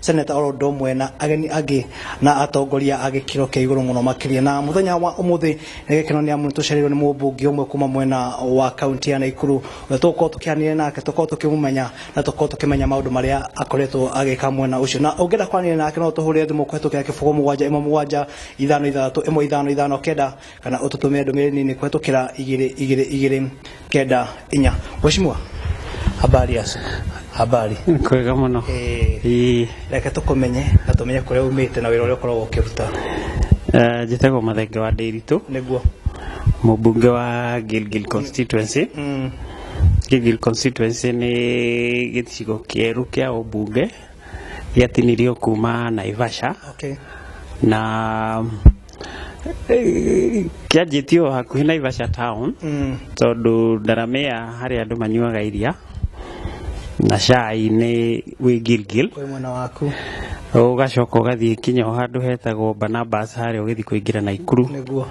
seneta oro ũndũ ũmwe na ageni angĩ na atongoria a gĩkĩro kĩa igũrũ mũno makĩria na mũthenya wa ũmũthĩ nĩ gĩkeno nĩ amu tũcereirwo nĩ mũmbunge ũmwe kuma mwena wa kaunti ya Naikuru ũrĩa tũgũkorwo tũkĩaranĩria nake tũkorwo tũkĩmũmenya na tũkorwo tũkĩmenya maũndũ marĩa akoretwo agĩka mwena ũcio na ũngĩenda kwaranĩria nake no ũtũhũrĩre thimũ kũhetũkĩra kĩbũgũ mũgwanja ĩmwe mũgwanja ithano ithathatũ ĩmwe ithano ithano kenda kana ututumire ndumire nini kuhetukira igiri igiri igiri kenda inya weshimua habari ya siku habari kwega muno eh Ii, reke tukumenye na tumenye kuria umite na wira uria ukoragwo ukiruta eh, njĩtagwo mathenge wa ndĩritũ niguo mũmbunge wa gilgil constituency mm. gilgil constituency nĩ gĩcigo kĩerũ kĩa ũmbunge gĩatinirio kuma naivasha okay na kĩanjĩtie o hakuhĩ naivasha town Mm. tondũ ndaramea harĩ andũ manyuaga iria na cai nĩ wĩ gilgil Kwĩ mwena waku. ũgacoka ũgathiĩ kinya o handũ hetagwo banabas harĩa ũgĩthiĩ kũingĩra naikuru Nĩguo.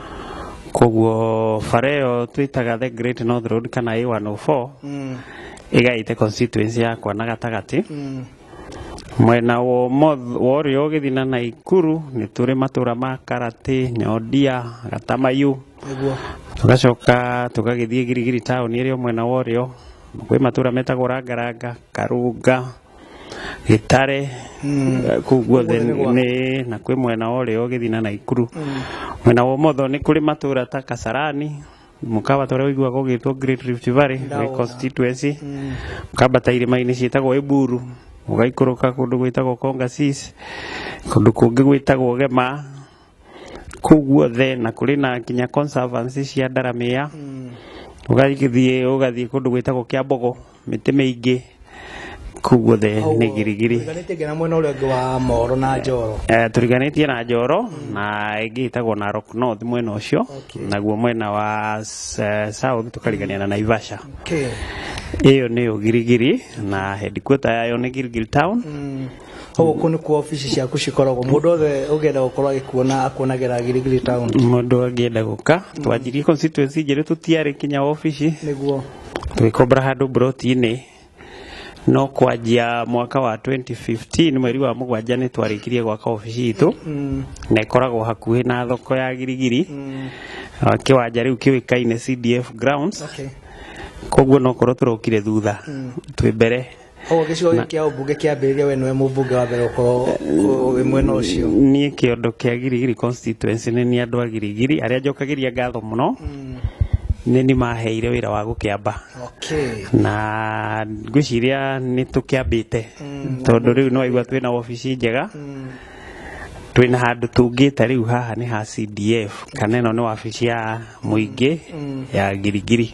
koguo bara ĩyo twĩtaga the great north road kana a104 Mm. ĩgaĩte constituency yakwa na gatagatĩ Mm. Mwena wa ũmotho wa ũrĩo ũgĩthina na Ikuru nĩ tũrĩ matũra ma Karatĩ, Nyondia, Gatamayu. Tũgacoka tũgagĩthiĩ Girigiri taũni ĩrĩ o mwena wa ũrĩo. Kwĩ matũra metagwo Rangaranga, Karunga, Gĩtare, kũu guothe nĩ na kwĩ mwena wa ũrĩo ũgĩthina na Ikuru. Mwena wa ũmotho nĩ kũrĩ matũra ta Kasarani. mũkabata ũrĩa ũiguaga ũgĩtwo Great Rift Valley Ndawa. wĩ constituency Mm. mũkambata irĩma-inĩ ciĩtagwo Eburu mũgaikũrũka kũndũ gwĩtagwo Kongasis kũndũ kũngĩ gwĩtagwo Gema kũu guothe na kũrĩ na nginya conservancy cia Ndaramea Mm. ũgathiĩ ũgathiĩ kũndũ gwĩtagwo Kĩambogo mĩtĩ mĩingĩ kuu guothe nĩ girigiri Tũriganĩtie nginya mwena ũrĩa ũngĩ wa Moro na Njoro. Eh, tũriganĩtie na njoro na ĩngĩ ĩtagwo narok north mwena ũcio naguo mwena wa s- eh, south tũkarigania na naivasha Okay. ĩyo nĩyo girigiri na headquarter yayo nĩ girigiri town Hau kũ nĩ kuo ofici ciaku cikoragwo. Mũndũ wothe ũngĩenda gũkorwo agĩkuona akuonagĩra Girigiri Town. mũndũ angĩenda gũka twanjirie constituency njerũ tũtiarĩ kinya ofici Nĩguo. Tũgĩkombora handũ mburoti-inĩ no kwanjia mwaka wa 2015 mweri wa mũgwanja nĩ twarĩkirie gwaka obici itũ na ĩkoragwo hakuhĩ na thoko ya girigiri Ah, kĩwanja rĩu kĩũĩkaine CDF grounds Okay. koguo nokorwo tũrokire thutha twĩ mbere koguo gĩcigo gĩkĩ kĩa ũmbunge kĩambĩrĩria we nĩwe mũmbunge wa mbere gũkorwo wĩ mwena ũcio niĩ kĩondo kĩa girigiri constituency nĩ niĩ andũ a girigiri arĩa njokagĩria ngatho mũno nĩ niĩ maheire wĩra wa gũkĩamba okay na ngwĩciria nĩ tũkĩambĩte tondũ rĩu nĩwaigua twĩna wabici njega twĩna handũ tũngĩte rĩu haha nĩ ha CDF kana ĩno nĩ wabici ya mũingĩ ya ngirigiri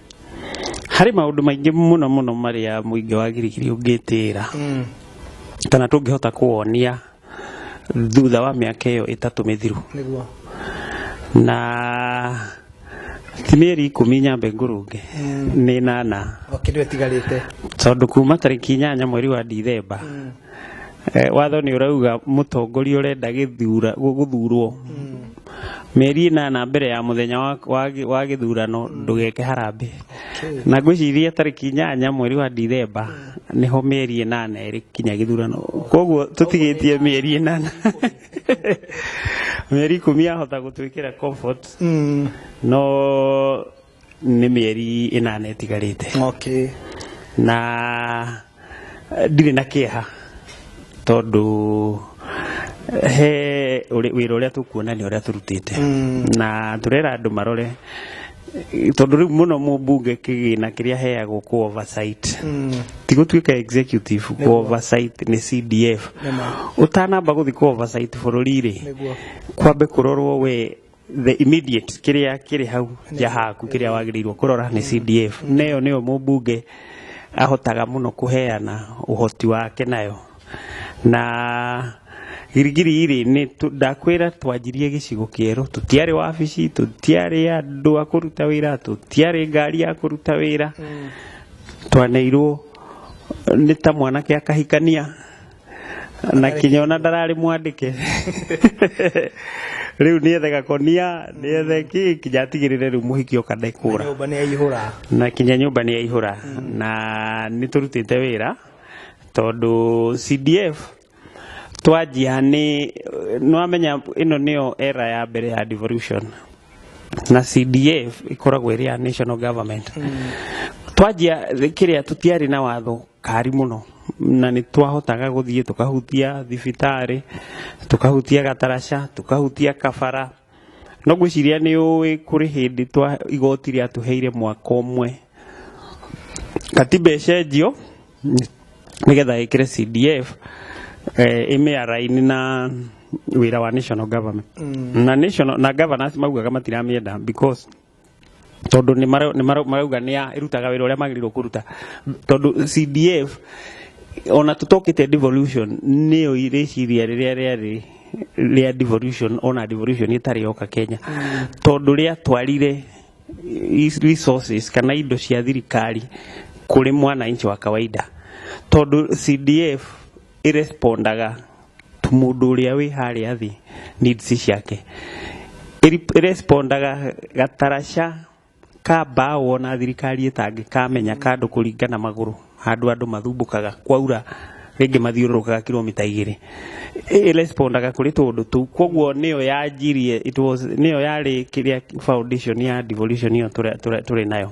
harĩ maũndũ maingĩ mũno mũno marĩa mũingĩ wa girigiri ũngĩtĩra mm. kana tũngĩhota kũwonia thutha wa mĩaka ĩyo ĩtatũ mĩthiru na ti mĩeri ikũmi nyambe ngũrũnge mm. nĩ nana tondũ kuma tarĩki inyanya mweri wa ndithemba mm. eh, watho nĩ ũrauga mũtongoria ũrenda gũthurwo mm. mĩeri ĩnana mbere ya mũthenya wa, wa, gĩ- wa gĩthurano ndũgeke harambĩ na ngwĩciria tarĩki inyanya mweri wa ndithemba nĩho mĩeri ĩnana ĩrĩ kinya gĩthurano koguo tũtigĩtie mĩeri ĩnana mĩeri ikũmi yahota gũtwĩkĩra comfort Mm. no nĩ mĩeri ĩnana ĩtigarĩte okay. na eh, ndirĩ na kĩeha tondũ eh, he ũrĩ- wĩra ũrĩa tũkuona nĩ ũrĩa tũrutĩte Mm. na tũrera andũ marore eh, tondũ rĩu mũno mũmbunge kĩgĩna kĩrĩa heagwo ku oversight Mm. ti gũtuĩka executive ku oversight nĩ cdf Nĩma. ũtanamba gũthiĩ ku oversight bũrũri-rĩ Nĩguo. kwambe kũrorwo we the immediate kĩrĩa kĩrĩ hau nja haku kĩrĩa wagĩrĩirwo kũrora nĩ CDF neyo nĩyo mũmbunge ahotaga mũno kũheana ũhoti wake nayo na girigiri irĩ nĩ tũ- ndakwĩra twanjirie gĩcigo kĩerũ tũtiarĩ wabici tũtiarĩ andũ a kũruta wĩra tũtiarĩ ngari ya kũruta wĩra twaneirwo nĩ ta mwanake akahikania na kinya ona ndararĩ mwandĩke rĩu nĩethe gakonia nĩethe kĩ kinya atigĩrĩre rĩu mũhiki oka ndekũra nyũmba nĩ yaihũra na kinya nyũmba nĩ yaihũra na nĩ tũrutĩte wĩra tondũ CDF twanjia nĩ nĩwamenya ĩno nĩyo era ya mbere ya devolution na CDF ĩkoragwo ĩrĩ ya national government twanjia kĩrĩa tũtiarĩ na watho ngari mũno na nĩ twahotaga gũthiĩ tũkahutia thibitarĩ, tũkahutia gataraca, tũkahutia kabara. No ngwĩciria nĩ ũĩ kũrĩ hĩndĩ igoti rĩatũheire mwaka ũmwe Katiba ĩcenjio nĩ getha ĩkĩre CDF ĩmĩaraini na wĩra wa National Government. Na National, na Governors maugaga matiramĩenda because... tondũ nĩmarauga nĩĩrutaga wĩra ũrĩa magĩrĩirwo kũruta tondũ CDF ona tũtokĩte devolution nĩyo rĩciria rĩrĩa rĩarĩ rĩa devolution ona devolution ĩtarĩ yoka Kenya mm. tondũ rĩa twarire resources kana indo cia thirikari kũrĩ mwananchi wa kawaida tondũ CDF ĩrespondaga mũndũ ũrĩa wĩ harĩa thĩ needs ciake ĩrespondaga gataraca ka mbaũ ona thirikari ĩtangĩkamenya kandũ kũringa na magũrũ handũ andũ mathumbũkaga kwaura rĩngĩ mathiũrũrũkaga kilomita igĩrĩ ĩrespondaga kũrĩ tũũndũ tũu koguo nĩyo yanjirie nĩyo yarĩ kĩrĩa foundation ya devolution ĩyo tũrĩ nayo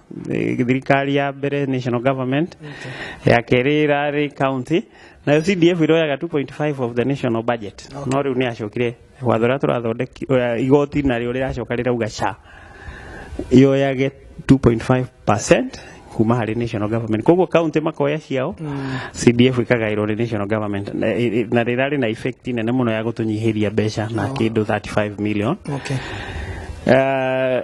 eh, thirikari ya mbere national government ya kerĩ ĩrarĩ county nayo cdf iroyaga 2.5 of the national budget no rĩu nĩ acokire watho ũrĩa tũrathondeki ũrĩa- igoti narĩo rĩracoka rĩrauga sha yoyage 2.5 percent kuma harĩ national government koguo county makoya ciao cdf ikagaĩrwo nĩ national government na ĩ- ĩ- na rĩrarĩ na effect nene mũno ya gũtũnyihĩria mbeca na kĩndũ 35 million Okay. Eh,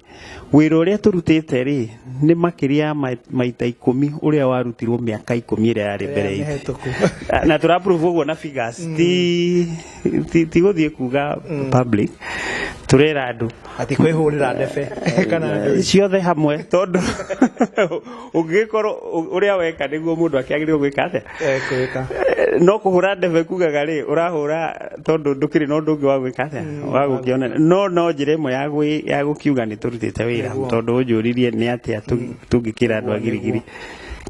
Wĩra ũrĩa tũrutĩte rĩ nĩ makĩria ya ma- maita ikũmi ũrĩa warutirwo mĩaka ikũmi ĩrĩa yarĩ mbere itũ mĩhĩtũku na tå raprove å guo na figures ti ti- ti gå thiä kuga public tå rera andå atä kwä hå rä ra ndebe kana andũ ciothe hamwe tondå ũngĩgĩkorwo ũ- ũrĩa weka nĩguo mũndũ akĩagĩrĩirwo gwĩka atĩa ekwĩka Eh, no kũhũra ndebe kugaga rĩ ũrahũra tondũ ndũkĩrĩ na ũndũ ũngĩ wa gwĩka atĩa wa gũkĩona no no njĩra ĩmwe ya gwĩ- ya gũkiuga nĩ tũrutĩte wĩra Nĩguo. tondũ ũnjũririe nĩ atĩa tũ- tũngĩkĩra andũ a girigiri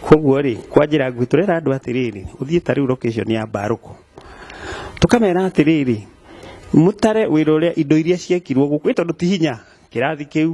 koguo rĩ kwa njĩra nguhĩ tũrera andũ atĩrĩrĩ ũthiĩ ta rĩu location ya mbarũkũ tũkamera atĩrĩrĩ mũtare wĩra ũrĩa indo iria ciekirwo gũkũ ĩ tondũ ti hinya kĩrathi kĩu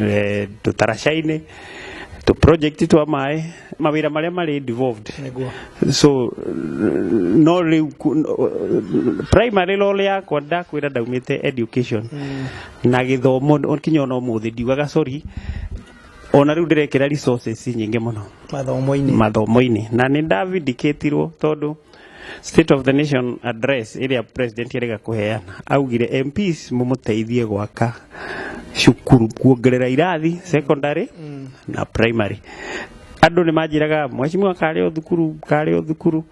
eh, tũtaraca-inĩ tũ project twa maĩ mawĩra marĩa marĩ devolved Nĩguo. so no rĩu ku- no- primary role yakwa ndakwĩra ndaumĩte education na gĩthomo kinya ona ũmũthĩ ndiugaga sorry ona rĩu ndĩrekĩra resources nyingĩ mũno mathomo-inĩ mathomo-inĩ na nĩ ndavindicatirwo tondũ State of the Nation address ĩrĩa president erĩga kũheana augire MPs mũmũteithie gwaka cukuru kuongerera irathi secondary mm. na primary andũ nĩ manjĩraga mheshimiwa karĩ o thukuru karĩ o thukuru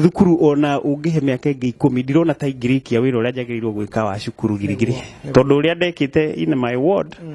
thukuru ona ũngĩhe mĩaka ĩngĩ ikũmi ndirona ta ingĩrĩkia wĩra ũrĩa njagĩrĩirwo gwĩka wa cukuru girigiri tondũ ũrĩa ndekĩte in my ward mm.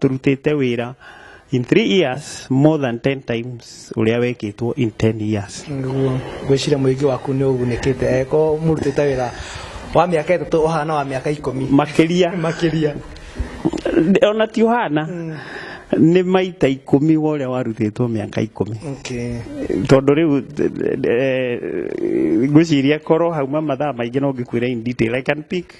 tũrutĩte wĩra in three years more than 10 times ũrĩa wekĩtwo in 10 years Nĩguo ngwĩciria mũingĩ waku nĩ ũgunĩkĩte eko mũrutĩte wĩra wa mĩaka ĩtatũ ũhana wa mĩaka ikũmi makĩria makĩria ona ti ũhana nĩ maita ikũmi wa ũrĩa warutĩtwo mĩaka ikũmi okay. tondå rä u ngwä ciria korwo hauma mathaa maingä no ngä kwä ra in detail i can pick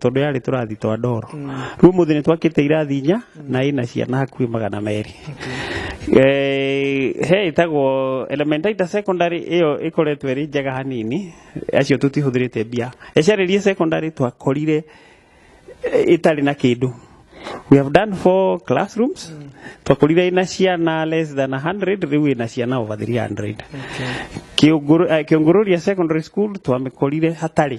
tondå yarä tå rathi twa ndoro rä u må thä nä twakä te irathi inya na ä na ciana hakuä magana merä Eh, he ĩtagwo elementaita secondary ĩyo ĩkoretwo ĩrĩ njega hanini acio tũtihũthĩrĩte mbia ĩcarĩrie secondary twakorire eh, ĩtarĩ na kĩndũ we have done four classrooms twakorire ĩna ciana less than 100 rĩu ĩna ciana over 300 Kĩũngũrũ- eh, kĩũngũrũria secondary school twamĩkorire hatarĩ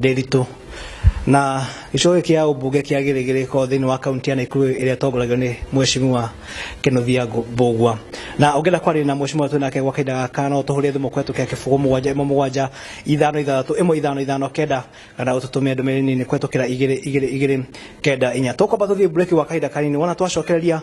Ndĩritũ. Na gĩcigo gĩkĩ kĩa ũmbunge kĩa Gĩrĩgĩrĩko thĩinĩ wa kaunti ya Naikuru ĩrĩa ĩtongoragio nĩ Mheshimiwa Kĩnũthia Mbũgua. Na ũngĩenda kwaria na Mheshimiwa twĩ nake gwa kahinda gaka no ũtũhũrĩre thimũ kũhetũkĩra kĩbũgũ mũgwanja ĩmwe mũgwanja ithano ithathatũ ĩmwe ithano ithano kenda kana ũtũtũmĩre ndũmĩrĩri nini kũhetũkĩra igĩrĩ igĩrĩ igĩrĩ kenda inya. Tũkwamba tũthiĩ mbureki gwa kahinda kanini wona twacokereria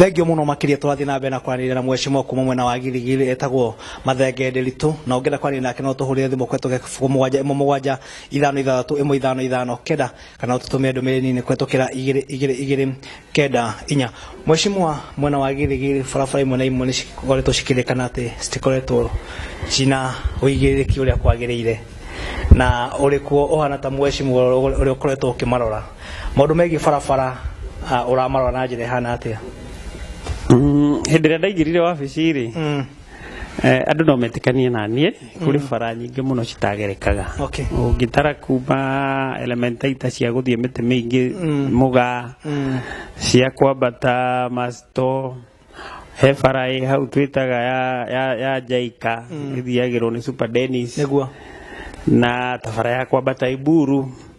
thengio muno makiria turathi na mbere na kwaranĩria na mwecimwa kuma mwena wa girigiri etagwo mathenge ndiritũ na ũngĩenda kwaranĩria nake no tũhũrĩre thimũ kwetu gĩbuku mũgwanja ĩmwe mũgwanja ithano ithathatũ ĩmwe ithano ithano kenda kana ũtũtũmĩre ndũmĩrĩri nini kwetukĩra igĩrĩ igĩrĩ igĩrĩ kenda inya mweshimua mwena wa githigiri barabara imwe na imwe nä cikoretwo cikĩrĩkana atä citikoretwo cina ũigĩrĩrĩki ũrĩa kwagĩrĩire na ũrĩ kuo ũhana ta mweshimua ũrĩa ũkoretwo ũkĩmarora maũndũ megiĩ barabara ah, ũramarora na njĩra ĩhana atĩa Mm, hĩndĩ ĩrĩa ndaingĩrire wabici-rĩ Mm. Eh, andå no metĩkanie na niĩ kũrĩ mm. bara nyingĩ mũno citagerekaga ũngĩtara kuma elementaita cia gũthiĩ mĩtĩ mĩingĩ mm. mũga mm. cia kwambata masto he bara ĩ hau twĩtaga ya njaika ĩthiagĩrwo nĩ super denis na tabara ya kwambata iburu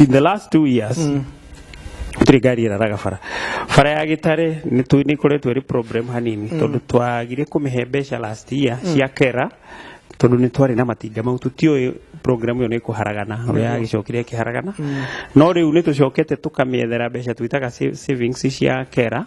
in the last two years gũtirĩ ngari ĩraraga bara bara ya gĩtare nĩ koretwo ĩrĩ problem hanini tondũ twagire kũmĩhe mbeca last year cia kera tondũ nĩ twarĩ na matinga mau tũtiũĩ program ĩyo nĩ kũharagana ũrĩa yagĩcokire ĩkĩharagana no rĩu nĩ tũcokete tũkamĩethera mbeca twĩtaga sa- savings cia kera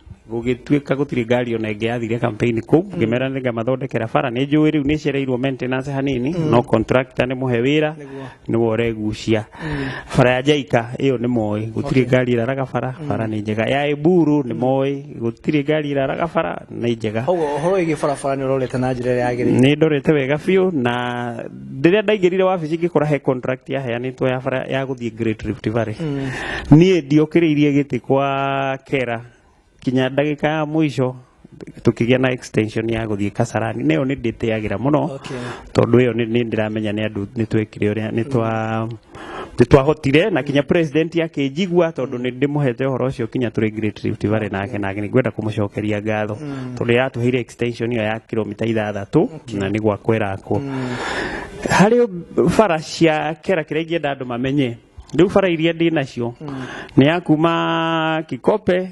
gũgĩtuĩka gũtirĩ ngari ona ĩngĩ yathire campaign kũu ngĩmera nĩ ngamathondekera bara nĩ njũĩ rĩu nĩ cereirwo maintenance hanini no contractor nĩ mũhe wĩra nĩwe ũregucia bara ya jaika ĩyo nĩ moĩ gũtirĩ ngari ĩraraga bara bara nĩ njega ya eburu nĩ moĩ gũtirĩ ngari ĩraraga bara nĩ njega koguo ũhoro wĩgiĩ barabara nĩ ũrorete na njĩra ĩrĩa yagĩrĩire nĩ ndorete wega biũ na rĩrĩa ndaingĩrire wabici ngĩkora he contract yaheanĩtwo ya bara ya gũthiĩ Great Rift Valley niĩ ndiokĩrĩirie gĩtĩ kwa kera kinya ndagĩka ya mũico tũkĩgĩa na extension ya gũthiĩ Kasarani nayo nĩ ndĩtĩagĩra mũno Okay. tondũ ĩyo nĩ nĩ ndĩramenya nĩ andũ nĩ twekire ũrĩa nĩ twa nĩ twahotire na kinya president akĩnjigua tondũ nĩ ndĩmũhete ũhoro ũcio kinya tũrĩ Great Rift Valley nake na nĩ ngwenda kũmũcokeria ngatho tondũ yatũheire extension ĩyo ya kilomita ithathatũ na nĩ gwakwo ĩrakwo harĩ bara cia kera kĩrĩa ingĩenda andũ mamenye rĩu bara iria ndĩ nacio nĩ ya kuma kikope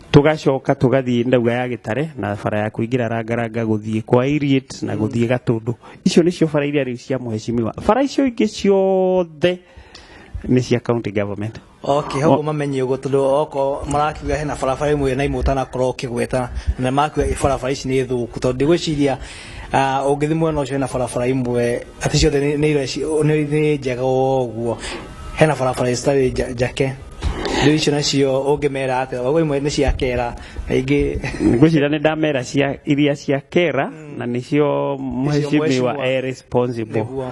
tugacoka tugathiĩ ndauga ya gĩtare na bara ya kũingĩra rangaranga gũthiĩ kwa Iriet na gũthiĩ gatũndũ icio nĩcio bara iria rĩu cia mũheshimiwa bara icio ingĩ ciothe nĩ cia county government okay hau mamenye ũguo tondũ oko marakiuga hena barabara ĩmwe na imwe ũtanakorwo ũkĩgweta na makiuga barabara ici nĩ thũku tondũ ndigwĩciria Ah, ũngĩthi mwena ũcio hena barabara imwe atĩ ciothe nĩ- nĩ ireci- nĩ nĩ njega ũguo hena barabara citarĩ nja- njake rĩu icio nacio ũngĩmera atĩa ũguo imwe nĩ cia kera na ingĩ ngwĩciria nĩ ndamera cia iria cia kera na nĩcio mheshimiwa mheshimiwa. e responsible Nĩguo.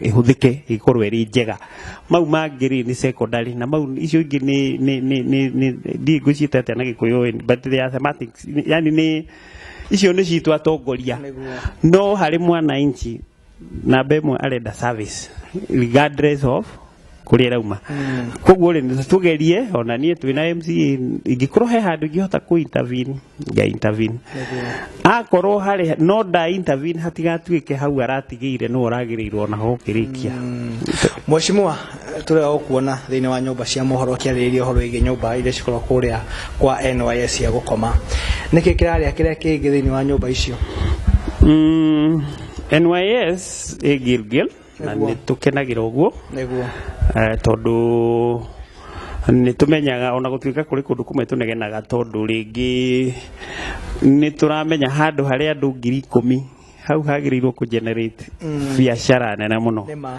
ihũthike ikorwo ĩrĩ njega mau mangĩ rĩ nĩ secondary na mau icio ingĩ nĩ nĩ nĩ nĩ nĩ ndiĩ ngũciĩta atĩa na gĩkũyũ but they are semantics yani nĩ icio nĩ citũ atongoria no harĩ mwananchi namba ĩmwe arenda service regardless of kuria rauma koguo ri tugerie ona nie twina MC ingikorwo he handu ingihota ku intervene ya intervene akorwo hari no nda intervene hatigatuike hau aratigire no aragirirwo ona ho kirikia Mheshimiwa turega gukuona thiini wa nyumba cia mohoro kiaririria horo igi nyumba iria cikorwo kuria kwa NYS ya gukoma niki kiraria kiria kingi thiini wa nyumba icio Mm, NYS e Gilgil na nĩ tũkenagĩra ũguo nĩguo eh, tondũ nĩ tũmenyaga ona gũtuĩka kũrĩ kũndũ kũmwe tũnegenaga tondũ rĩngĩ nĩ tũramenya handũ harĩa andũ ngiri ikũmi hau hagĩrĩirwo kũ generate Mm. biacara nene mũno nĩ ma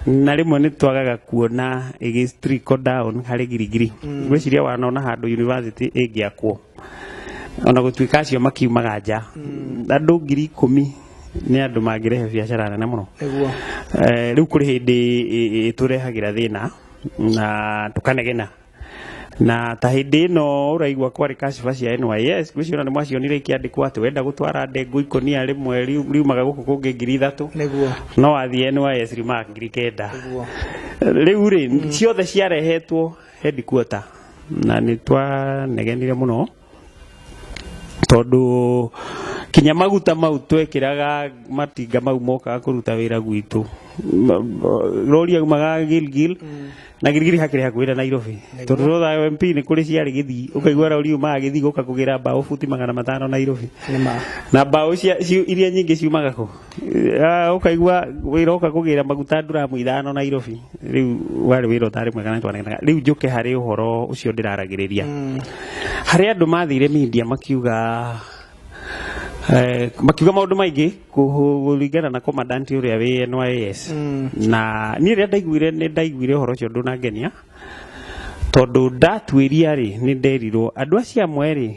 na rĩmwe nĩ twagaga kuona ĩgĩ trickle down harĩ girigiri Mm. ngwĩciria wanona handũ university ĩngĩakwo ona gũtuĩka acio makiumaga nja andũ ngiri ikũmi nĩ andũ mangĩrehe biacara nene mũno nĩguo Eh, rĩu kũrĩ hĩndĩ ĩ- ĩ- ĩtũrehagĩra thĩna na tũkanegena na ta hĩndĩ ĩno ũraigua kwarĩ kaciba cia NYS gwĩciona nĩ mwacionire ikĩandĩkwo atĩ wenda gũtwara ndengũ ikũnia rĩmwe riu- riumaga gũkũ kũngĩ ngiri ithatũ nĩguo no wathiĩ NYS riumaga ngiri kenda nĩguo rĩu rĩ ciothe ciarehetwo headquarter na nä twanegenire må no tondå kinya maguta mau twekĩraga matinga mau mokaga kũruta wĩra gwitũ rori aumaga gilgil na gilgil hakĩrĩ hakuhĩ na nairobi tondũ rotha mp nĩ kũrĩ ciarĩ gĩthii ũkaigua rori umaga gĩthii gũka kũgĩra mbaũ buti magana matano nairobi Nĩ ma. na mbaũ cia- ciu- iria nyingĩ ciumaga kũ Ah, ukaigua wira uka kugira maguta nduramu ithano Nairobi riu wari wira utari mwega na twanagana riu njuke hari uhoro ucio ndiraragiriria hari andu mathire media makiuga eh, makiuga maundu maingi kuringana na commandant uria wi NYS na ni ria ndaiguire ni ndaiguire uhoro ucio ndunangenia tondu ndatuiria ri ni nderirwo andu acio amwe ri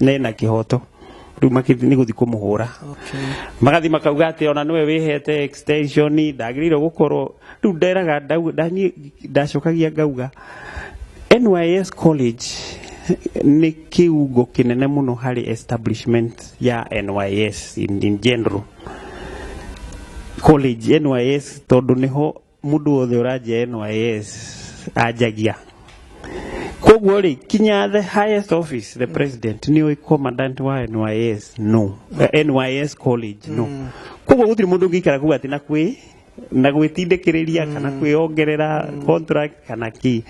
nena kihoto riu makithi ni guthi kumuhura magathi makauga ati ona niwe wihete extension ndagirire gukorwo riu nderaga ndau- ndani- ndacokagia ngauga NYS college ni kiungo kinene muno hari establishment ya NYS in, in general college NYS tondu niho mundu wothe uranjia NYS anjagia koguo ri kinya the highest office the president ni oi commandant wa NYS no eh, NYS college no mm. koguo gutiri mundu ngikara kuga ati na kwi na gwĩtindĩkĩrĩria mm. kana kwĩongerera mm. contract kana ki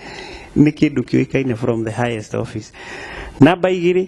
nĩ kĩndũ kĩũĩkaine from the highest office namba igĩrĩ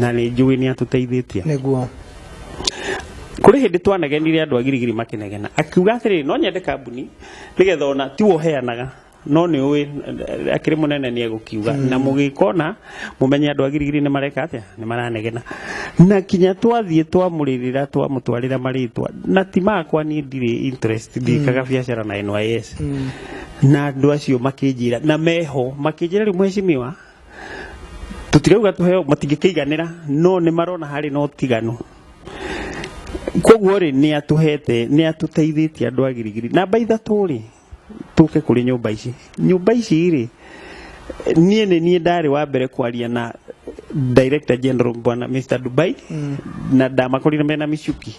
na nĩ njũĩ nĩ atũteithĩtie nĩguo kũrĩ hĩndĩ twanegenire andũ a girigiri makĩnegena akiuga atĩrĩrĩ no nyende kambuni nĩgetha ona ti woheanaga no nĩ ũĩ eh, akĩrĩ mũnene nĩ egũkiuga na mũgĩkona mũmenye andũ a girigiri nĩ mareka atĩa nĩ maranegena na kinya twathiĩ twamũrĩrĩra twamũtwarĩra marĩtwa na ti makwa niĩ ndirĩ interest ndikaga biacara na NYS na andũ acio makĩnjĩra na meho makĩnjĩra rĩu mheshimiwa tutirauga tũheo matingĩkĩiganĩra no nĩ marona harĩ na ũtiganu koguo rĩ nĩ atũhete nĩ atũteithĩtie andũ a girigiri na mba ithatũ rĩ tũke kũrĩ nyũmba ici nyũmba ici rĩ niĩ nĩ niĩ ndarĩ wa mbere kwaria na director general bwana mr dubai na ndamakorire mena micuki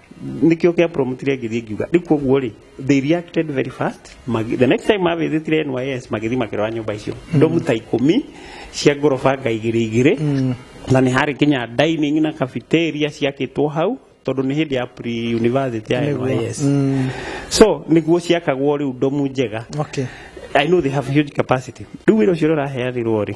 nikio kia promotire ngithii ngiuga riu koguo ri they reacted very fast Magi- the next time mavithitire NYS magithi makirora nyumba icio ndomu ta ikumi cia ngoroba ngaigiri igiri na ni hari kinya dining na cafeteria ciakitwo hau tondu ni hindi ya pre university ya Nĩguo. NYS Mm. so niguo ciakagwo riu ndomu njega Okay. I know they have huge capacity riu wira ucio uraheanirwo ri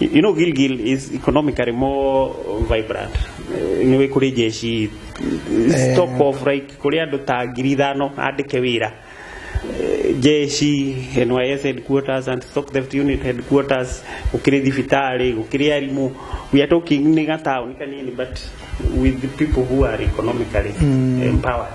You you know, Gilgil is economically more vibrant. Eh, Nĩ wĩ kũrĩ jeshi eh, stock of like kũrĩ andũ ta ngiri ithano andĩke wĩra Eh, jeshi NYS headquarters and stock theft unit headquarters gũkĩrĩ thibitarĩ gũkĩrĩ arimũ we are talking nĩ gataũni kanini but with the people who are economically empowered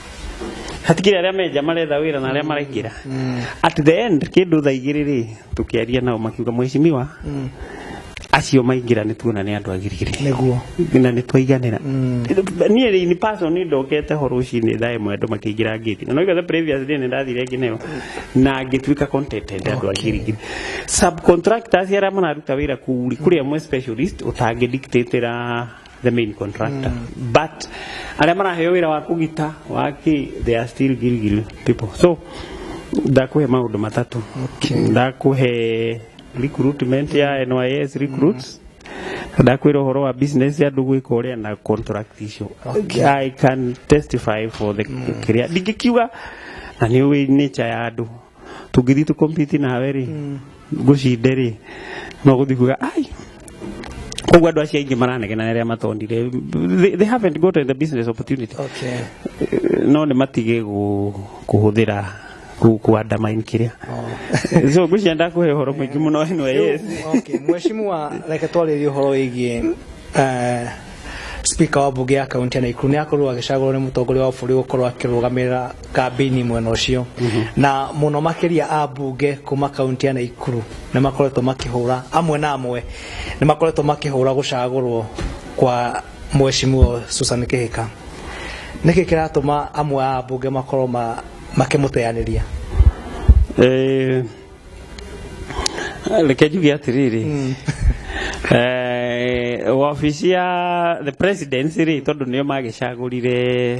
hatikire arĩa menja maretha wĩra na arĩa maraingĩra at the end kĩndũ thaa igĩrĩ rĩ tũkĩaria nao makiuga mwecimiwa acio maingĩra nĩ tuona nĩ andũ agirigiri nĩguo na nĩ twaiganĩra niĩ rĩ in person nĩ ndokete ho rũcinĩ thaa ĩmwe andũ makĩingĩra ngĩti na noigathe previous day nĩ ndathire nginya ĩyo na ngĩtuĩka contented andũ agirigiri subcontractors arĩa mararuta wĩra kũu rĩ kũrĩ amwe specialist ũtangĩdictatĩra the main contractor mm. but arĩa maraheo wĩra wa kũgita waki they are still gilgil people so ndakuhe maũndũ matatũ okay. ndakuhe recruitment ya NYS recruits mm ndakwira horo wa business ya ndugu iko ria na contract icio okay. i can testify for the mm. kiria ndingikiuga na ni wi nature ya andu tũngĩthiĩ tũ compete nawe rĩ ngũcinde rĩ no gũthiĩ kuga ai koguo andå acio aingä maranegena arä a matondire they, they haven't gotten the business opportunity okay no nä matigä kå hå thä ra kuandamain kä rä a so ngå cia ndakå he å horo må ingä må no ä no yes okay mheshimiwa reke twarĩrie ũhoro wĩgiĩ eh, speaker wa mbunge ya kaunti ya naikuru nĩ akorwo agĩcagũrwo nĩ mũtongoria wa bũrũri gũkorwo akĩrũgamĩrĩra kambĩini mwena ũcio na mũno makĩria a mbunge kuma kaunti ya Naikuru nĩ makoretwo makĩhũra amwe na amwe nĩ makoretwo makĩhũra gũcagũrwo kwa mheshimiwa Susan Kĩhĩka nĩkĩ kĩratũma amwe a mbunge makorwo ma- makĩmũteanĩria Eh, reke njuge atĩrĩrĩ Eh, wabici ya the presidency rĩ tondũ nĩo magĩcagũrire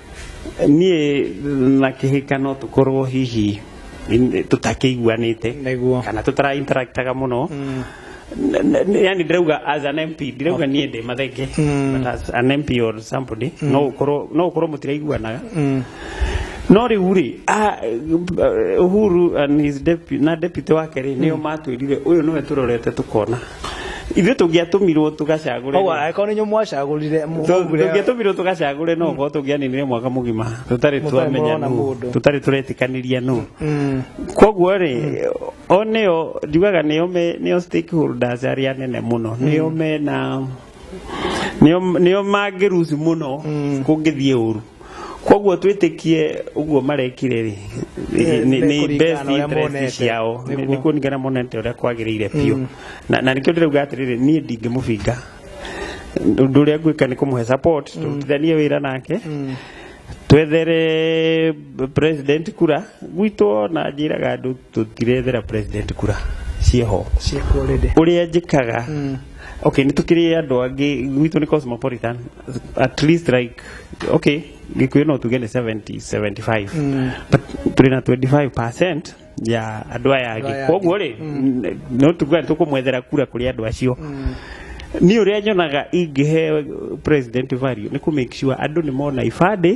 niĩ na kĩhĩka no tũkorwo hihi in- tũtakĩiguanĩte Nĩguo. kana tũtara interactaga mũno N- n- yani ndirauga as an mp ndirauga niĩ ndĩ mathenge but as an mp or somebody no ũkorwo no ũkorwo mũtiraiguanaga no rĩu rĩ ah, eh, uhuru and his deputy, na deputy wake rĩ nĩo matwĩrire ũyũ nĩwe tũrorete tũkona ithuĩ tũngĩatũmirwo tũgacagũre koguo angĩkorwo nĩ inyuĩ mwacagũrire tũngĩatũmirwo tũgacagũre no gũkorwo tũngĩaninire mwaka mũgima tũtarĩ Mũtarĩ twamenya mũrona nũ mũndũ. tũtarĩ tũretĩkanĩria nũ koguo rĩ o nĩo njugaga nĩo me- nĩo stakeholders arĩa nene mũno nĩo mena nĩo nĩo mangĩruci mũno kũngĩthiĩ ũru koguo twĩtĩkie ũguo marekire rĩ nĩ- nĩ- nĩ nĩ best kũringana na ũrĩa interest monete. ciao Nĩ- Nĩguo. nĩ kũringana monete ũrĩa kwagĩrĩire biũ Na- na nĩkĩo ndĩrauga atĩrĩrĩ niĩ ndingĩmũbinga ũndũ ũrĩa ngwĩka nĩ kũmũhe support tũrutithanie wĩra nake twethere president kura gwitũ na njĩraga andũ tũtirethera president kura ciĩho ciĩkuo rĩndĩ ũrĩa njĩkaga okay nĩ tũkĩrĩ andũ angĩ gwitũ nĩ cosmopolitan at least like okay gĩkuyu no tuge nĩ 70 75 Mm. but tũrĩ na 25 percent ya andũ aya Andũ aya angĩ angĩ. koguo rĩ no tuga nĩ tũkũmwethera kura kũrĩ andũ acio niĩ ũrĩa nyonaga ingĩhe president value nĩ kũ make sure andũ nĩ mona ibandĩ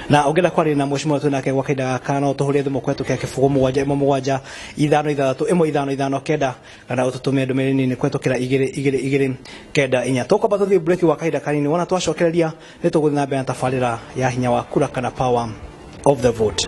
na ungenda kwaria na mheshimiwa tu nake gwa kaida gaka no tuhurie thimu kwetu kia kibugu mugwanja imwe mugwanja ithano ithathatu imwe ithano ithano kenda kana ututumie ndumiri nini kwetu kira igiri igiri igiri kenda inya tukwamba tuthie break wa kaida kanini wona twacokereria ni tuguthi na mbere na tabarira ya hinya wa kura kana power of the vote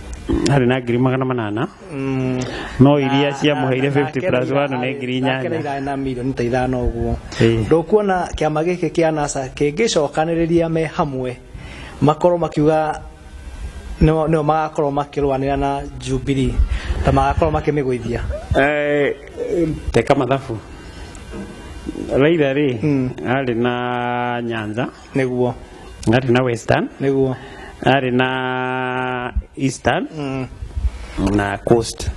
harĩ na ngiri magana manana no iria ciamũheire 50 plus 1 nĩ ngiri inyanya irarĩ na mirioni ta ithano ũguo Ĩĩ. ndũkuona kĩama gĩkĩ kĩa nasa kĩngĩcokanĩrĩria me hamwe makorwo makiuga nĩo nĩo magakorwo makĩrũanĩra na jubilee na magakorwo makĩmĩgũithia Eh, teka mathabu raitha rĩ arĩ na nyanza nĩguo arĩ na western nĩguo arĩ na eastern mm. na coast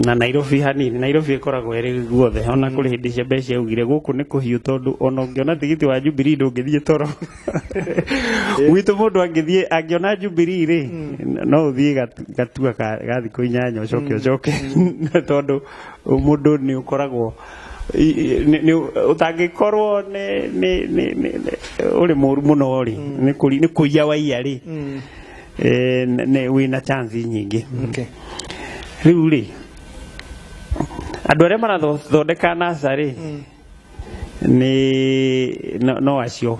na nairobi hanini nairobi ĩkoragwo ĩrĩ guothe ona kũrĩ hĩndĩ cia mbeca ciaugire gũkũ nĩ kũhiũ tondũ ona ũngĩona tigiti wa jubilee ndũngĩthiĩ toro gwitũ mũndũ angĩthiĩ angĩona jubilee rĩ no ũthiĩ gat- gatua ka- ga thikũ inyanya ũcoke ũcoke tondũ mũndũ nĩ ũkoragwo utangĩkorwo ũrĩ mũru mũno rĩ nĩ kũiya waiya rĩ wĩna chance nyingĩ rĩu rĩ andũ arĩa marathondeka nasa rĩ nĩ no acio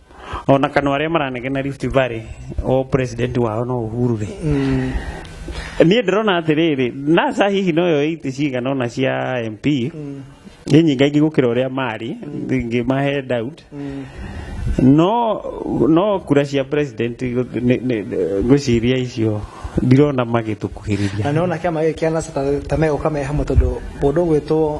ona kana arĩa maranegena Rift Valley o president wao no Uhuru rĩ mm. niĩ ndĩrona atĩrĩrĩ NASA hihi no yo iti cigana ona cia MP mm. nĩ nyinga ingĩ gũkĩra ũrĩa marĩ mm. ingĩ mahe doubt mm. no no kura cia president ngwĩciria icio ndirona magĩtũkuhĩrĩria na nona kĩama gĩkĩ kĩa NASA ta megũka me hamwe tondũ mũndũ ũgwĩtwo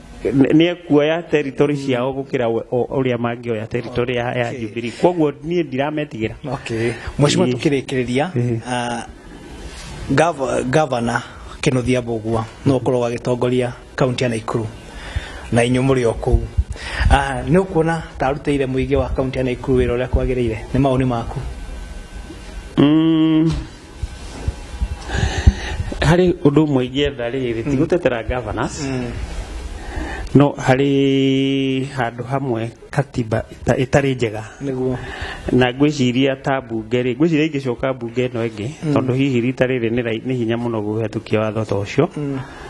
Nĩ- nĩ ekuoya territory ciao gũkĩra we- o- ũrĩa mangĩoya territory ya ya Jubilee kwoguo niĩ ndirametigĩra okay mheshimiwa Ĩĩ. tukirikiriria Ĩĩ. ah, gov- governor kinuthia mbugua no ukorwo agitongoria kaunti ya naikuru na inyu muri o kuu Ah, nĩ ũkuona ta arutĩire mũingĩ wa kaunti ya naikuru wĩra ũrĩa kwagĩrĩire nĩ maoni maku Mm, harĩ ũndũ ũmwe ingĩetha rĩrĩ ti gũtetera governors no harĩ handũ hamwe katiba ĩta- ĩtarĩ njega nĩguo na ngwĩciria ta mbunge rĩ ngwĩciria ingĩcoka mbunge ĩno ĩngĩ tondũ hihi rita rĩrĩ nĩ rai- nĩ hinya mũno gũhĩtũkia watho ta ũcio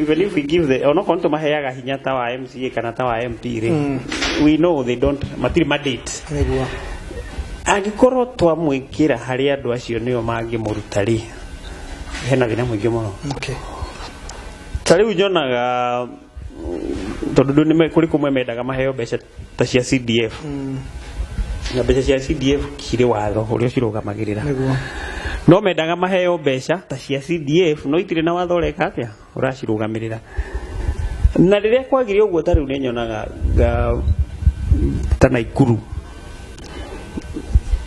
even if we give the onokorwo nĩ tũmaheaga hinya ta wa mca kana ta wa mp rĩ mm. we know they don't matirĩ mandate nĩguo angĩkorwo twamwĩkĩra harĩ andũ acio nĩo mangĩmũruta rĩ hena thĩna mũingĩ mũno okay. ta rĩu nyonaga tondå ndå nä kå rä kå mwe mendaga maheo mbeca ta cia CDF na mbeca cia CDF cirĩ watho ũrĩa ũcirũgamagĩrĩra nĩguo no mendaga maheo mbeca ta cia CDF no itirĩ na watho ũreka atĩa ũracirũgamĩrĩra na rĩrĩa kwagire ũguo ta rĩu nĩ nyonaga nga- ta Naikuru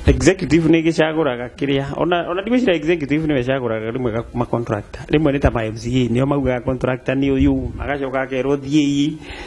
executive nĩ gĩcagũraga kĩrĩa ona ona ndigwĩcira executive nĩwe ĩcagũraga rĩmwe ga- ma contractor rĩmwe nĩ ta ma MCA nĩo maugaga contractor nĩ ũyũ magacoka akerwo thiĩi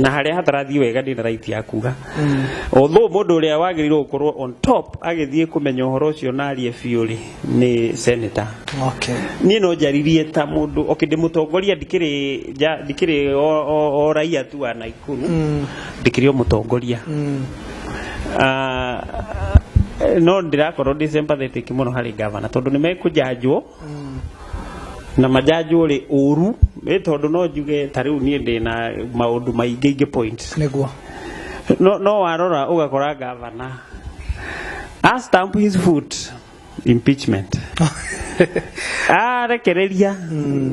na harĩa hatarathiĩ wega ndĩ na right ya kuga although mũndũ ũrĩa wagĩrĩirwo gũkorwo on top agĩthiĩ kũmenya ũhoro ũcio na arie biũ rĩ nĩ senator okay niĩ no njaririe ta mũndũ okay ndĩ mũtongoria ndikĩrĩ nja- ndikĩrĩ o- o o raia tu wa Naikuru Mm. ndikĩrĩ o mũtongoria Mm. Ah, no ndĩrakorwo ndĩ sympathetic mũno harĩ gavana tondũ nĩ mekũjanjwo na manjanjwo rĩ ũru nĩ tondũ no njuge ta rĩu niĩ ndĩ na maũndũ maingĩ ingĩ point nĩguo no, no warora ũgakora gavana a stamp his foot impeachment arekereria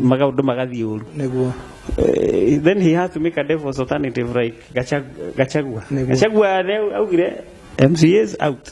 maũndũ magathiĩ ũru nĩguo Eh, then he had to make a devil's alternative like Gacha- gachagua Nĩguo. gachagua rĩu augire mcas out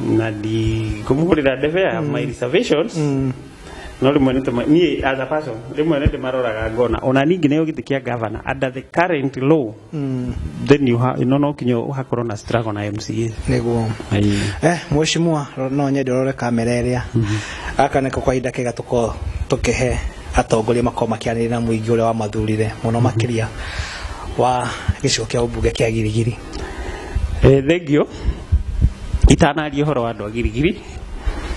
na ndikũmũgũrĩra ndebe ya my reservations no rĩmwe nĩ tũma- niĩ as a person rĩmwe nĩ ndĩmaroraga ngona ona ningĩ nĩyo gĩtĩ kĩa gavana under the current law then you ha- no no kinya ũhakorwo na struggle na mca nĩguo Ayi. eh mweshimua no nyende rore kamera ĩrĩa aka nĩko kwa ihinda kega tũko tũkĩhe atongoria makorwo makĩaranĩria na mũingĩ ũrĩa wamathurire mũno makĩria wa gĩcigo kĩa ũmbunge kĩa girigiri Eh, thengio itanaria ũhoro wa andũ a girigiri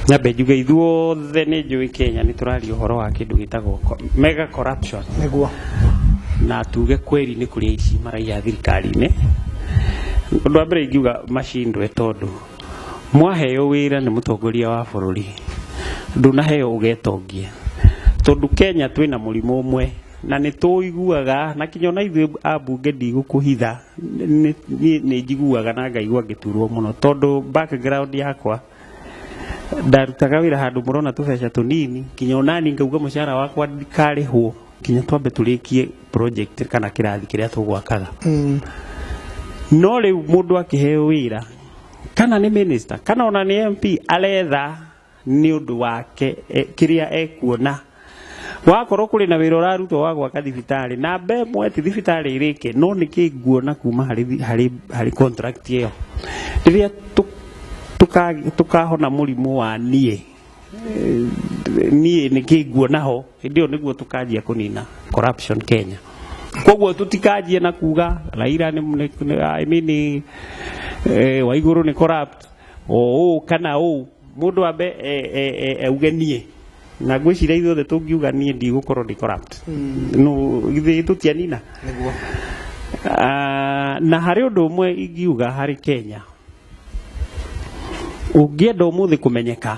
nyambe njuge ithuothe nĩ njũĩ kenya nĩ tũraria ũhoro wa kĩndũ gĩtagwo co- mega corruption nĩguo na tuge kweli nĩ kũrĩ aici maraiya thirikari-inĩ ũndũ wa mbere ingiuga macindwe tondũ mwaheo wĩra nĩ mũtongoria wa bũrũri ndũnaheo ũgetongie tondũ kenya twĩna mũrimũ ũmwe na nĩ tũiguaga na kinya ona ithuĩ ambunge ndigũkũhitha niĩ nĩ njiguaga na ngaigua ngĩturwo mũno tondũ background yakwa ndarutaga wĩra handũ mũrona tũbeca tũnini nginya onani ngauga mũcara wakwa ndikarĩhwo nginya twambe tũrĩkie project kana kĩrathi kĩrĩa tũgwakaga mm. no rĩu mũndũ akĩheo wĩra kana nĩ minister kana ona nĩ MP aretha nĩ ũndũ wake kĩrĩa ekuona wakorwo kũrĩ na wĩra ũrarutwo wa gwaka thibitarĩ na mbe ĩmwe ti thibitarĩ ĩrĩke no nĩ kĩ nguona kuma harĩ contract ĩyo rĩrĩa tũkahona mũrimũ wa niĩ niĩ nĩ kĩ nguona ho hĩndĩ ĩyo nĩguo tũkanjia kũnina corruption Kenya koguo tũtikanjie na kuga Raila nĩ I mean eh, Waigũrũ nĩ corrupt ũũ kana ũũ mũndũ ambe e, e, e, auge niĩ na ngwĩciria ithuothe tũngiuga niĩ ndigũkorwo ndi corrupt mm. no githĩ tũtianina nĩguo Ah, na harĩ ũndũ ũmwe ingiuga harĩ kenya ũngĩenda ũmũthĩ kũmenyeka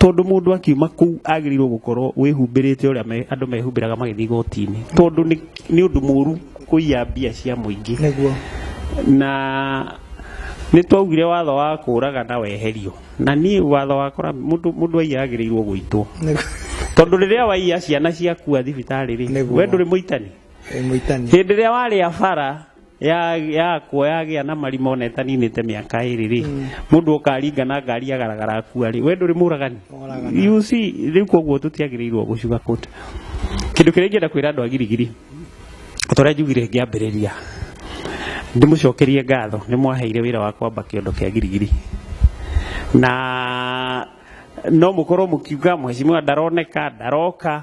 tondũ mũndũ akiuma kũu agĩrĩirwo gũkorwo wĩhumbĩrĩte ũrĩa andũ mehumbĩraga magĩthiĩ igoti-inĩ tondũ nĩ ũndũ mũru kũiya mbia cia mũingĩ na nĩ twaugire watho wa kũraga na weherio na niĩ watho wakora mũndũ aiya agĩrĩirwo gũitwo tondũ rĩrĩa waiya ciana ciakua thibitarĩ rĩ we ndũrĩ mũitani hĩndĩ ĩrĩa warĩa bara ya ya kuo yagĩa na marima ona ĩtaninĩte mĩaka ĩrĩ rĩ mũndũ ũkaringa na ngari agaragara akua rĩ we ndũrĩ mũragani you see rĩu koguo tũtiagĩrĩirwo gũcuga kũta kĩndũ kĩrĩa ingĩenda kwĩra andũ a girigiri ta ũrĩa njugire ngĩambĩrĩria ndĩmũcokerie ngatho nĩ mwaheire wĩra wa kwamba kĩondo kĩa girigiri na no mũkorwo mũkiuga mheshimiwa ndaroneka ndaroka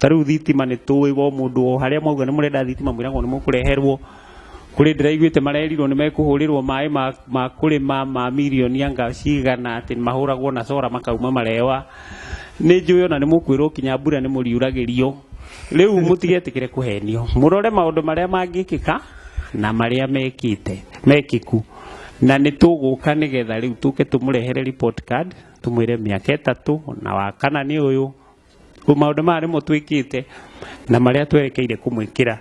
Ta rĩu thitima nĩ tũĩ o mũndũ o harĩa mwauga nĩ mũrenda thitima mwĩragwo nĩ mũkũreherwo. Kũrĩ ndĩraiguĩte marerirwo nĩ mekũhũrĩrwo maĩ ma kũrĩma ma mirioni anga cigana atĩ mahũragwo na solar makauma marewa. Nĩ njũĩ ona nĩ mũkwĩrwo nginya mbura nĩ mũriuragĩrio. Rĩu mũtigetĩkĩre kũhenio. Mũrore maũndũ marĩa mangĩkĩka na marĩa mekĩte, mekĩku. Na nĩ tũgũka nĩ getha rĩu tũke tũmũrehere report card, tũmwĩre mĩaka ĩtatũ na wa kana nĩ ũyũ. maundu maya nimo twikite na maria twerekeire kumwikira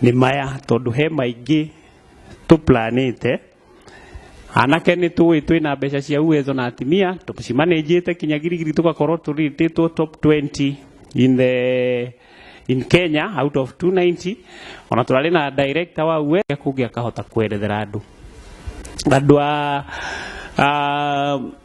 ni maya tondu he maingi tuplanite anake ni tuwi twi na mbeca cia uwezo na atimia tucimanejite kinya girigiri tugakorwo turititwo top 20 in the in Kenya out of 290 ona turari na director wa uwe kungi akahota kwerethera andu andu a a-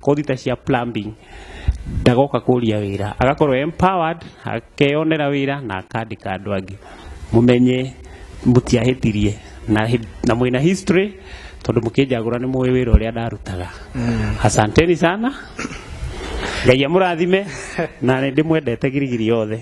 kothi ta cia plumbing ndagoka kũria wĩra agakorwo empowered akeyonera wĩra na akandĩka andũ angĩ mũmenye mũtiahĩtirie na, hĩ- na mwĩna history tondũ mũkĩnjagũra nĩ mũĩ wĩra ũrĩa ndarutaga asanteni sana ngai amũrathime na nĩ ndĩmwendete girigiri yothe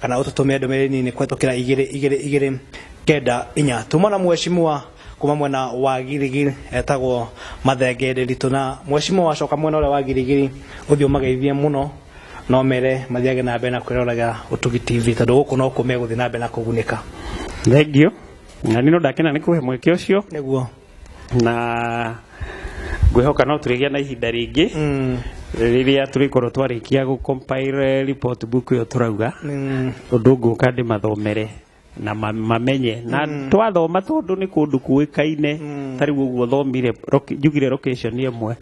kana ũtũtũmĩre ndũmĩrĩri nini kũhetũkĩra igĩrĩ igĩrĩ igĩrĩ kenda inya tuma na mweshimua kuma mwena wa girigiri etagwo mathenge ndĩritũ na mweshimua wacoka mwena ũrĩa wa girigiri ũthiĩ ũmageithie mũno no mere mathiage na mbere na kwĩroragĩra ũtugi tv tondũ gũkũ no kũ megũthiĩ na mbere na kũgunĩka Thengio. Na nĩ no ndakena nĩ kũhe mweke ũcio. nĩguo na ngwĩhoka no tũrĩgĩa na ihinda rĩngĩ rĩrĩa tũrĩkorwo twarĩkia gũ compile report book ĩyo tũrauga ũndũ ngũka ndĩmathomere na ma- mamenye na twathoma tondũ nĩ kũndũ kũĩkaine ta rĩu ũguo thomire roki- njugire location ĩmwe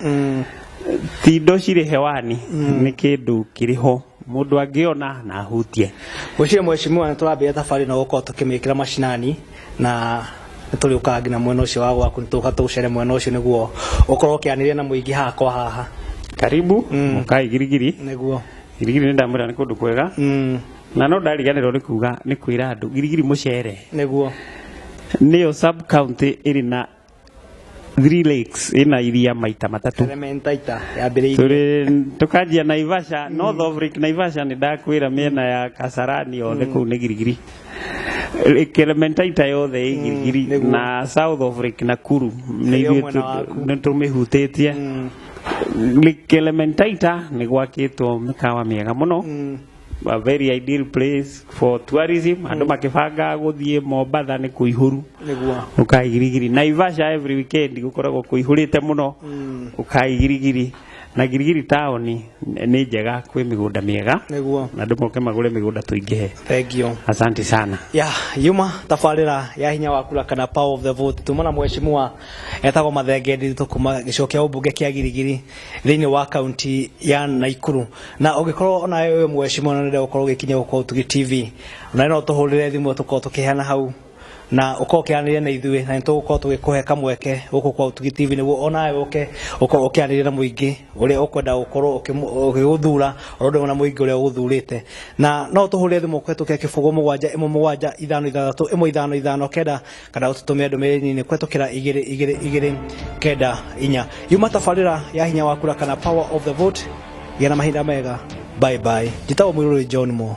ti indo cirĩ hewani nĩ kĩndũ kĩrĩ ho mundu angiona na ahutie Wĩcirie mheshimiwa nĩ tũrambĩrĩria thabarĩ na gũkorwo tũkĩmĩkĩra macinani na nĩ tũrĩũkaga nginya mwena ũcio wa gwaku nĩ tũka tũgũcere mwena ũcio nĩguo ũkorwo ũkĩanĩria na mũingĩ haha kwa haha karibu Mm. mukai girigiri nĩguo girigiri nĩ ndamwĩra nĩ kũndũ kwega mm, na no ndariganĩrwo nĩ kuga nĩ kwĩra andũ girigiri mũcere nĩguo nĩyo sub county ĩrĩ na Three lakes ina iria maita matatu Elementaita yambĩrĩirie tũrĩ tũkanjia naivasha north of lake naivasha nĩ ndakwĩra mĩena ya kasarani yothe kũu nĩ girigiri Lake elementaita yothe ĩ girigiri nĩguo. na south of lake nakuru nĩ Ĩrĩ o ithuĩ mwena waku. tũ- nĩ tũmĩhutĩtie lake elementaita nĩ gwakĩtwo mĩkawa mĩega mũno a very ideal place for tourism andå makĩbanga gũthiĩ mombatha nĩ kũihũru nĩguo ũkai girigiri naivasha every weekend gũkoragwo kũihũrĩte mũno ũkai girigiri na girigiri taũni nĩ njega kwĩ mĩgũnda mĩega nĩguo na andũ moke magũre mĩgũnda tũingĩhe thengio asante sana ya yuma tabarĩra ya hinya wa kura kana power of the vote tumana mheshimiwa etagwo mathenge ndiritu kuma gĩcigo kĩa ũmbunge kĩa girigiri thĩinĩ wa kaunti ya Naikuru na ũngĩkorwo nawe wĩ ũmwe ũcio mwana ũrenda gũkorwo ũgĩkinya gũkũ Ũtugi TV nawe no tũhũrĩre thimũ tũkorwo tũkĩheana hau na ũkorwo ũkĩaranĩria na ithuĩ na nĩtũgũkorwo tũgĩkũhe kamweke gũkũ kwa Ũtugi TV nĩguo onawe ũke ũkorwo ũkĩaranĩria na mũingĩ ũrĩa ũkwenda gũkorwo ũkĩmũ- ũgĩgũthura oro ũndũ ũmwe na mũingĩ ũrĩa ũgũthurĩte na no tũhũrĩre thimũ kũhetũkĩra kĩbũgũ mũgwanja ĩmwe mũgwanja ithano ithathatũ ĩmwe ithano ithano kenda kana ũtũtũmĩre ndũmĩrĩri nĩ kwetũkĩra igĩrĩ igĩrĩ igĩrĩ kenda inya yuma tabarĩra ya hinya wa kura kana power of the vote gĩa na mahinda mega bye bye njĩtagwo mũirũrĩ john mo